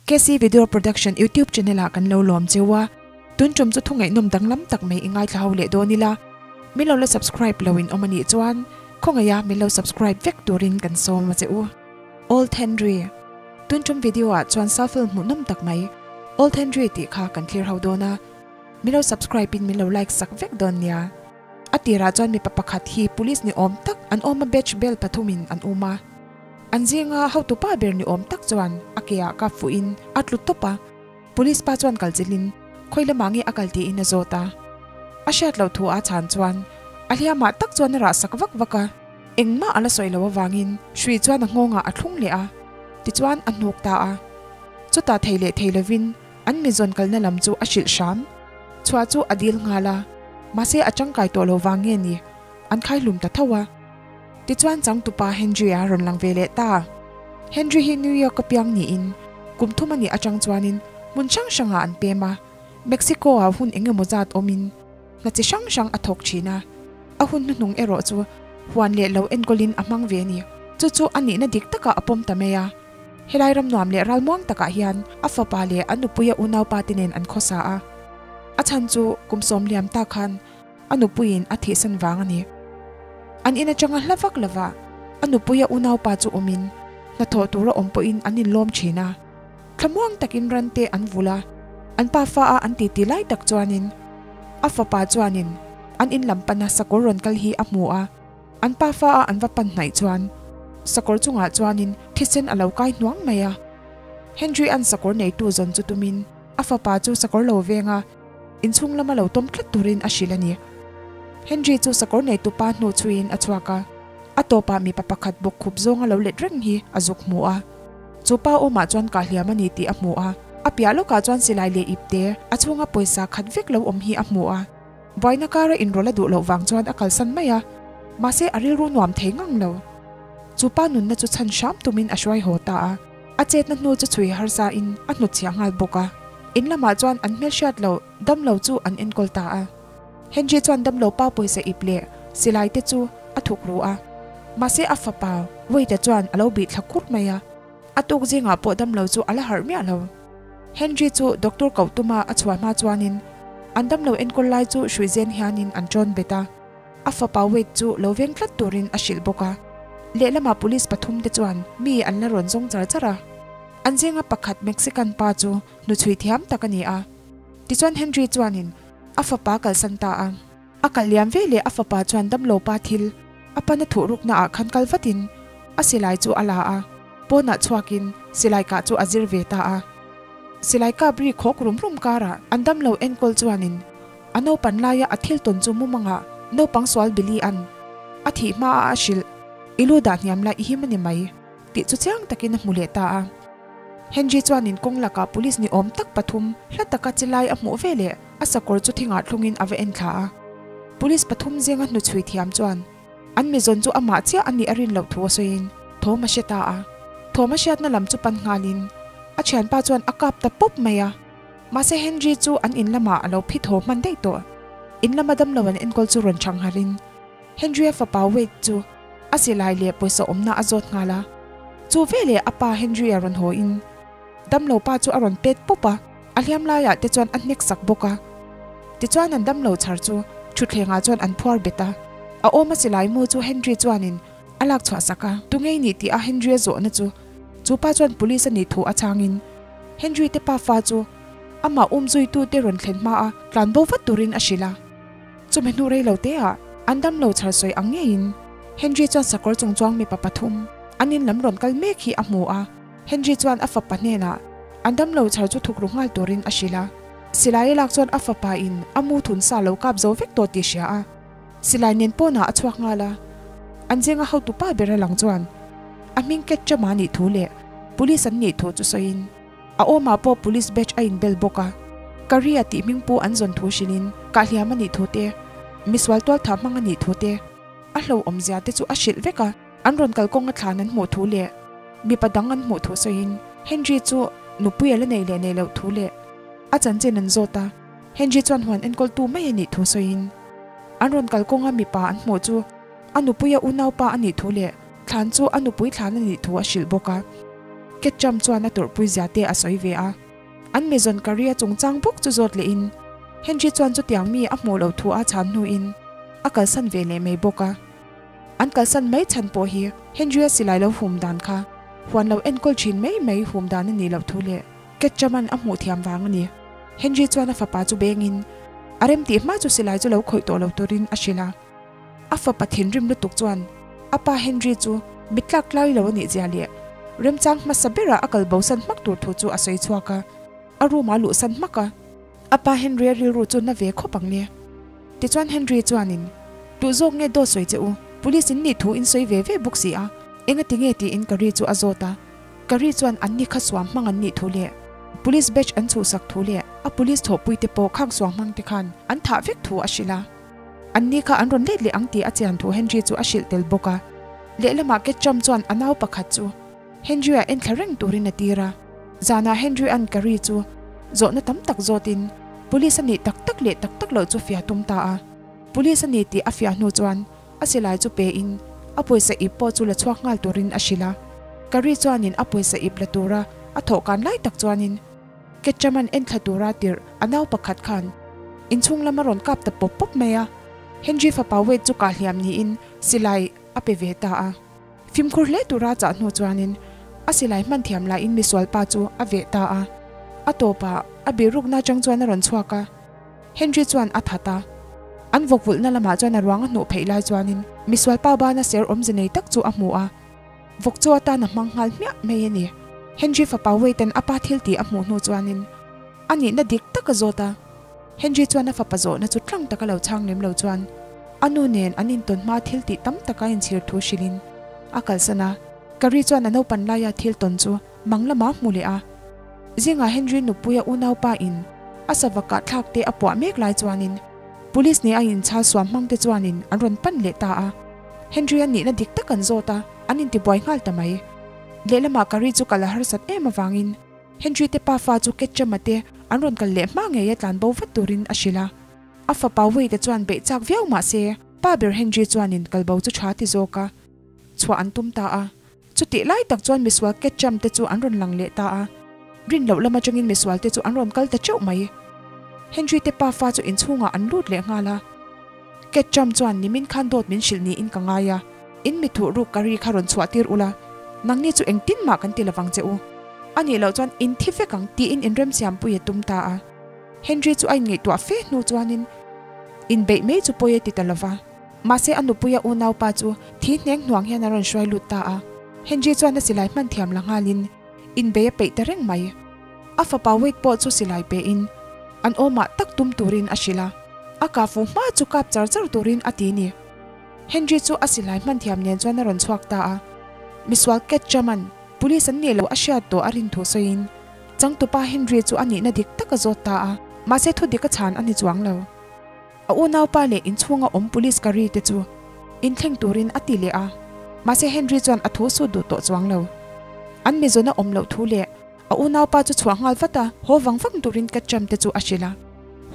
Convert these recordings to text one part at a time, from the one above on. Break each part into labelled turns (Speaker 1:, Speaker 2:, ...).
Speaker 1: Kesi Video Production YouTube Channel ah kan lo lawm cheu a, tun ṭawm chu thungainawm danglam tak mai i ngaithla ho leh dawn ila, min lo la subscribe lo in awm a nih chuan khawngaia min lo subscribe vek turin kan sawm va che u. Old Henry Tun ṭawm video ah chuan Salfel hmuhnawm tak mai Old Henry tih kha kan thlir ho dawn a, min lo subscribe in min lo like sak vek dawn nia. A tirah chuan mipa pakhat hi police ni awm tak an awm a, badge bel pathum in an um a. An zinga hotupa ber ni awm tak chuan a ke ah kap fuh in a tlu tawp a. Police pa chuan kal chilh in, Khawi lamah nge a kal tih in a zawt a? A hriat loh thu a chhan chuan a hliamah tak chuan a rah sak vak vak a. Engmah a la sawi lo avang in Shri chuan a nghawng ah a thlung leh a, tichuan a hnuk ta a. Chutah thei leh thei lo in An mitzawn kalna lam chu a hrilh hram. Chhuah chu a dil nghal a, mahse a tangkai tawh lo vang nge ni? An khaihlum ta tho a. Tichuan changtupa Henry-a rawn lang ve leh ta. Henry hi New York a piang niin kum thum a nih atang chuanin hmun hrang hrangah an pem a. Mexico-a hun eng emaw zat awmin hna chi hrang hrang a thawk thin a. A hun hnuhnung erawh chu huan leh lo enkawlin a hmang ve a ni. Chu chu a nihna dik takah a pawm ta mai a. Helai ram nuam leh ral muang takah hian a fapa leh a nupuia unaupa te nen an khawsa a. A chhan chu kum sawm hliam ta khan a nupuiin a thihsan vang a ni. An in atanga hla vak lova a nupuia unaupa chu awmin hnathawh tura awm pawhin an inlawm thin a. Thla muang takin rante an vul a, an pa fa a an titi lai tak chuanin a fapa chuanin an in lam pana sakawr rawn kal hi a hmu a. An pa fa a an va pan hnaih chuan sakawr chungah chuanin thisen a lo kai hnuam mai a. Henry an sakawr neitu zawn chu tumin a fapa chu sakawr lo venga inchhung lama lo tawm tlat turin a hrilh a ni. Henry chu sakawr neitu pa hnu chhuiin a chhuak a, a tawpah mipa pakhat bawk khup zawng a lo let reng hi a zuk hmu a. Chu pa awmah chuan kahliam a ni tih a hmu a, a piah lawkah chuan silai leh ipte a chhunga pawisa khat vek lo awm hi a hmu a. Vaina kara inrawlh a duh loh vang chuan a kalsan mai a, mahse a rilru nuam thei ngang lo. Chu pa nunna chu chhan hram tumin a hruai haw ta a, a chetna hnu chu chhui harsa in a hnut chhiah nghal bawk a. In lamah chuan an hmel hriat loh damlo chu an enkawl ta a. Henry chuan damlo pa pawisa ip leh silai te chu a thuk ru a, mahse a fapa Wade-a chuan a lo bih thla kur mai a, a tuk zingah pawh damlo chu a la harh miah lo. Henry chu doctor koh tuma a chhuah hma chuanin an damlo enkawl lai chu hrui zen hianin an tawn bet a. A fapa Wade chu lo veng tlat turin a hrilh bawk a. Lehlamah police pathum te chuan mi an la rawn zawng char char a. An zinga pakhat Mexican pa chu hnuchhui thiam tak a ni a. Tichuan Henry chuanin a fapa kalsan ta a. A kal liam ve leh a fapa chuan damlo pa thil a pan a thuh ruk naah khan kal vat in a silai chu a la a, pawn ah chhuak in silai kah chu a zir ve ta a. Silai kap ri khawk rum rum karah an damlo enkawl chuan in a naupan laia a thil tawn chu mumang ah naupang sual bili an a thih hma a a hrilh i lu dah hniam la i him ani mai tih chu chiang tak in a hmu leh ta a. Henry chuan in kawng lak ah police ni awm tak pathum hla taka chilai a hmuh ve leh a sakawr chu thingah thlungin a va en thla a. Police pathum zenga hnu chhui thiam chuan an mizawn chu amah chiah a nih a rin loh thu a sawiin thawm a hria ta a. Thawm a hriatna lam chu pan nghalin a thianpa chuan a kap ta pawp mai a. Mahse Henry chu an in lamah a lo phi thaw hman daih tawh. In lama damlo an enkawl chu rawn chhang harh in Henry a fapa Wade chu a silai leh pawisa awmna a zawt nghal a. Chu veleh a pa Henry a rawn hawiin damlo pa chu a rawn pet pawp a. A hliam laiah te chuan a hnek sak bawk a. Tichuan an damlo chhar chu thutthlengah chuan an phuar bet a. A awma silai mu chu Henry chuanin a lak chhuah sak a. Tu ngei ni tih a Henry-a zawhna chu. Chu pa chuan police a nih thu a changin Henry te pa fa chu amah um zuitu te rawn thlen hma a tlan bo vat turin a hrilh a. Chumi hnu rei lo te ah an damlo chhar sawi ang ngeiin Henry chuan sakawr chungchuang mipa pathum an in lam rawn kal mek hi a hmu a. Henry chuan a fapa hnenah an damlo chhar chu thukru nghal turin a hrilh a. Silai a lak chuan a fapa in a mu thun sa lo kap zo vek tawh tih hria a. Silai nen pawnah a chhuak nghal a. An zinga hotu pa ber a lang chuan a hming ket ṭe mah nih thu leh Police an nih thu chu sawiin a awmah pawh Police badge a inbel bawk a. Career tih hming pu an zawn thu hrilhin kahhliam a nih thu te, misual tualtha hmang a nih thu te a hloawm zia te chu a hrilh vek a. An rawn kal kawng a thlan an hmuh thu leh mipa dang an hmuh thu sawiin Henry chu nupui a la nei leh nei loh thu leh a chanchin an zawt a, Henry chuan huan enkawltu mai a nih thu sawiin an rawn kal kawng a mipa an hmuh chu a nupuia unaupa a nih thu leh thlan chu a nupui thlan a nih thu a hrilh bawk a. Ketchum chuan a tawrhpui zia te a sawi ve a, an mizawn career chungchang bawk chu zawt lehin Henry chuan chutiang mi a hmuh loh thu a chhan hnuin a kalsan ve leh mai bawk a. An kalsan mai chhan pawh hi Henry-a silai lo hum dan kha huan lo enkawl thin mai mai hum dan a nih loh thu leh Cat Chaman a hmuh thiam vang a ni. Henry chuan a fapa chu bengin a rem tih hma chu silai chu lo khawih tawh lo turin a hrilh a. A fapa thinrim lutuk chuan a pa Henry chu mi tlak tlai lo a nih zia leh remchang hmasa berah a kal bo san hmak tur thu chu a sawi chhuak a, a room-ah luh san hmak a. A pa Henry a rilru chu hna ve khawp ang nia. Tichuan Henry chuanin, Duh zawk nge daw sawi che u, police in nih thu in sawi ve ve bawk si a, engati nge tiin ka ri chu a zawt a, ka ri chuan an ni kha suam hmang an nih thu leh police badge an chhuhsak thu leh a police thawhpui te pawh khang suam hmang te khan an thah vek thu a hrilh a, an ni kha an rawn let leh ang tia a chian thu Henry chu a hrilh tel bawk a, lehlamah Ketchum chuan a nau pakhat chu. Henry-a en thla reng turin a tir a, zanah Henry-a'n Carrie chu zawhna tam tak zawtin Police a nih tak tak leh tak tak loh chu fia tum ta a. Police a ni tih a fiah hnu chuan a silai chu pein a pawisa ip pawh chu la chhuak nghal turin a hrilh a. Carrie chuanin a pawisa ip la tura a thawh kan lai tak chuanin Ketchum-a'n en thla tura tirh a nau pakhat khan inchhung lam a rawn kap ta pawp pawp mai a. Henry fapa Wade chu kah hliam niin silai a pe ve ta a. Fimkhur hle tura chah hnu chuanin a silai hman thiam lahin misual pa chu a veh ta a, a tawpah a biruk na chang chuan a rawn chhuak a, Henry chuan a that a, an vawkvulhna lamah chuan a ruang a hnuh pheih lai chuanin misual pa bana ser awmze nei tak chu a hmu a, vawk chu atan a hmang nghal hmiah mai a ni. Henry fapa Waite-n a pa thiltih a hmuh hnu chuanin a nihna dik tak a zawt a. Henry chuan a fapa zawhna chu ṭang taka lo chhang lem lo chuan a nu nen an intawn hmaa thil tih tam taka inchhir thu hrilhin a kalsan a. Carrie chuan a naupan laia thil tawn chu mang lama hmu leh a. Zingah Henry nupuia unaupa in a savakah thlak te a puah mek lai chuanin Police nih a inchal suam hmangte chuanin an rawn pan leh ta a. Henry an nihna dik tak an zawt a, an intibuai nghal ta mai. Lehlamah Carrie chu kal a harsat em avangin Henry te pa fa chu Ketchama te an rawn kal leh hma ngei a tlan bo vat turin a hrilh a. A fa Pauwi te chuan beih chak viau mahse pa ber Henry chuanin kalbo chu tha ti zawk a chhuah an tum ta a. Chutih lai tak chuan misual Ketcham te chu an rawn lang leh ta a. Rin loh lam atangin misual te chu an rawn kal ta teuh mai. Henry te pa fa chu inchhungah an lut leh nghal a. Ketchum chuan nimin khan dawt min hrilh niin ka ngai a, in mithuh ruk curry kha rawn chhuahtir ula, nangni chu engtin mah kan ti lovang che u. Anih loh chuan in thi vek ang tiin in remsiampui a tum ta a. Henry chu a inngeihtuah fe hnu chuanin in beih mai chu pawi a ti ta lova. Mahse a nupuia unaupa chu thi hneng hnuang hian a rawn hruai lut ta a. Henry chuan a silai hman thiam la nghalin Inbei a peih ta reng mai. A fapa Wade pawh chu silai pein an awmah tak tum turin a hrilh a, a kahfu hma chu kap char char turin a ti ni. Henry chu a silai hman thiam nen chuan a rawn chhuak ta a. Misual Ketchaman, Police an nih loh a hriat tawh a rin thu sawiin changtupa Henry chu a nihna dik taka zawt ta a, mahse thudik a chhan a ni chuang lo. A unaupa leh inchhunga awm police Curry te chu in thleng turin a ti leh a, mahse Henry chuan a thu sut duh tawh chuang lo. An mizawn a awm loh thu leh a unaupa chu chhuah nghal vata haw vang vang turin Ketchum te chu a hrilh a,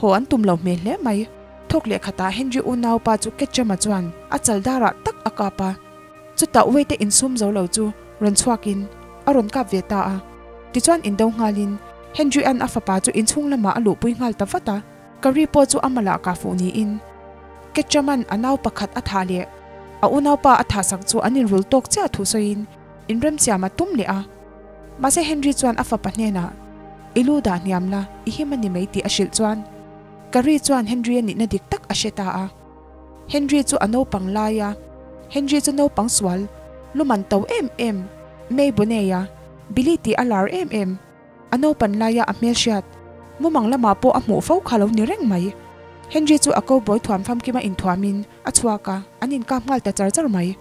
Speaker 1: haw an tum lo hmel hle mai. Thawk leh khatah Henry unaupa chu Ketchum-a chuan a chal darah tak a kap a, chutah Wei-te in sum zo lo chu rawn chhuakin a rawn kap ve ta a. Tichuan in do nghalin Henry-a'n a fapa chu inchhung lamah a luhpui nghal ta vat a. Ka ri pawh chu ama lah ka fuh niin Kechaman a nau pakhat a tha leh a unaupa a tha sak chu an inrul tawk chiah thu sawiin inremsiam a tum leh a. Mahse Henry chuan a fapa hnenah, I lu dah hniam la, i him a ni mai tih a hrilh chuan ka ri chuan Henry a nihna dik tak a hre ta a. Henry chu a naupang lai a, Henry chu naupang sual, lu man to em em, May Boney-a, Billy tih a lar em em, A naupan laia a hmelhriat mumang lamah pawh a hmuh fo kha lo ni reng mai. Henry chu a cowboy thuam famkim a inthuam in a chhuak a, an inkap nghal ta char char mai.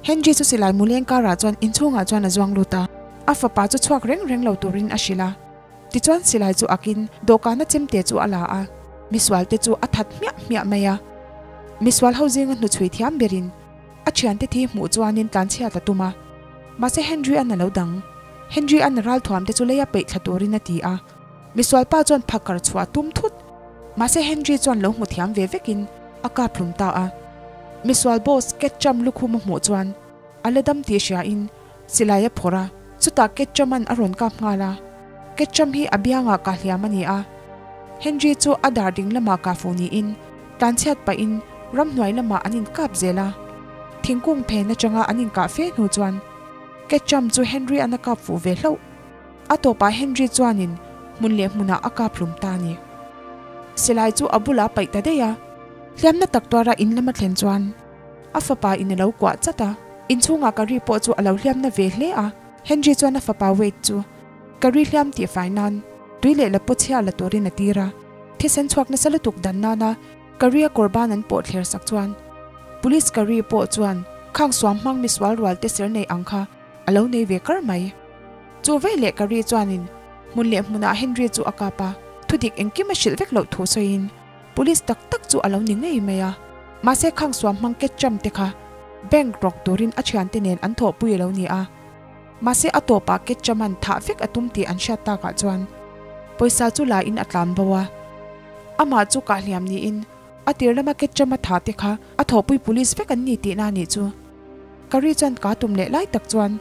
Speaker 1: Henry chu silai muleng karah chuan inchhungah chuan a zuang lut a, a fapa chu chhuak reng reng lo turin a hrilh a. Tichuan silai chu akin dawhkana chemte chu a la a, misualte chu a that hmiah hmiah mai a, misual ho zinga hnuchhui thiam berin A thiante thi hmuh chuanin tlanchhiat a tum a. Mahse Henry an alo dang. Henry an a ralthuam te chu lei a peih thla turin a ti a. Misual pa chuan pha kar chhuah tum thut. Mahse Henry chuan lo hmu thiam ve vekin a kap hlum ta a. Misual boss Ketchum lukhum a hmuh chuan a la dam tih hria in Silai a phawrh a, chutah Ketchaman a rawn kap nghal a. Ketcham hi a biangah kah hliam a ni a. Henry chu a dar ding lamah kah fu niin, tlanchhiat pahin ramhnuai lamah an inkap zel a. Thingkung phen atanga an inkah fe hnu chuan Ketcham chu Henry an a kap fuh ve hlauh. A tawpah Henry chuanin hmun leh hmunah a kap hlum ta a ni. Silai chu a bulah a paih ta daih a. Hliamna tak tuara in lam a thlen chuan. A fapa in a lo kuah chat a. In chhungah Carrie pawh chu a lo hliam na ve hle a. Henry chuan a fapa Wade chu Carrie hliam tih fai nan tui leh la pawh chhiar la turin a tir a. Thisen chhuak nasa lutuk dan nana Carrie-a kawr ban an pawh thler sak chuan Police Carrie pawh chuan khang suam hmang misual rualte ser nei ang kha a lo nei ve kar mai. Chu vei leh Carrie chuanin hmun leh hmunah Henry chu a kap a. Thudik engkim a hrilh vek loh thu sawiin Police tak tak chu a lo ni ngei mai a. Mahse khang suam hmang ketchum te kha bank rawk turin a thian te nen an thawhpui a lo ni a. Mahse a tawpah ketchum an thah vek a tum tih an hriat tak ah chuan pawisa chu la in a tlan bo a. Amah chu kah hliam niin a tir lama ketchum a thah te kha a thawhpui police vek an ni tihna a nih chu. Ka ri chuan ka tum leh lai tak chuan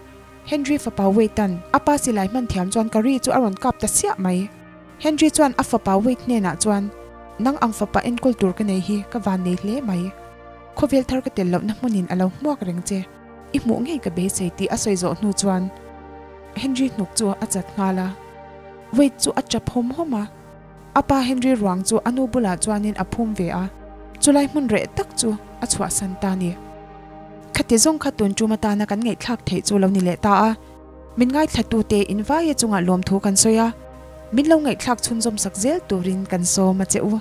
Speaker 1: Henry fapa Waytan a pa silai hman thiam chuan ka ri chu a rawn kap ta siah mai. Henry chuan a fapa Wade hnenah chuan, Nang ang fapa enkawl tur ka nei hi ka van nei hle mai. Khawvel thar ka tel lohna hmunin a lo hmuak reng che. I hmuh ngei ka beisei, tih a sawi zawh hnu chuan Henry hnuk chu a chat nghal a. Wade chu a chap hawm hawm a. A pa Henry ruang chu a nu bulah chuanin a phum ve a. Chu lai hmun reh tak chu a chhuahsan ta ni. Khati zawng kha tun tum atana kan ngaihthlak theih chu lo ni leh ta a. Min ngaithlatute invaia chungah lawmthu kan sawi a, min lo ngaihthlak chhunzawmsak zel turin kan sawm a che u.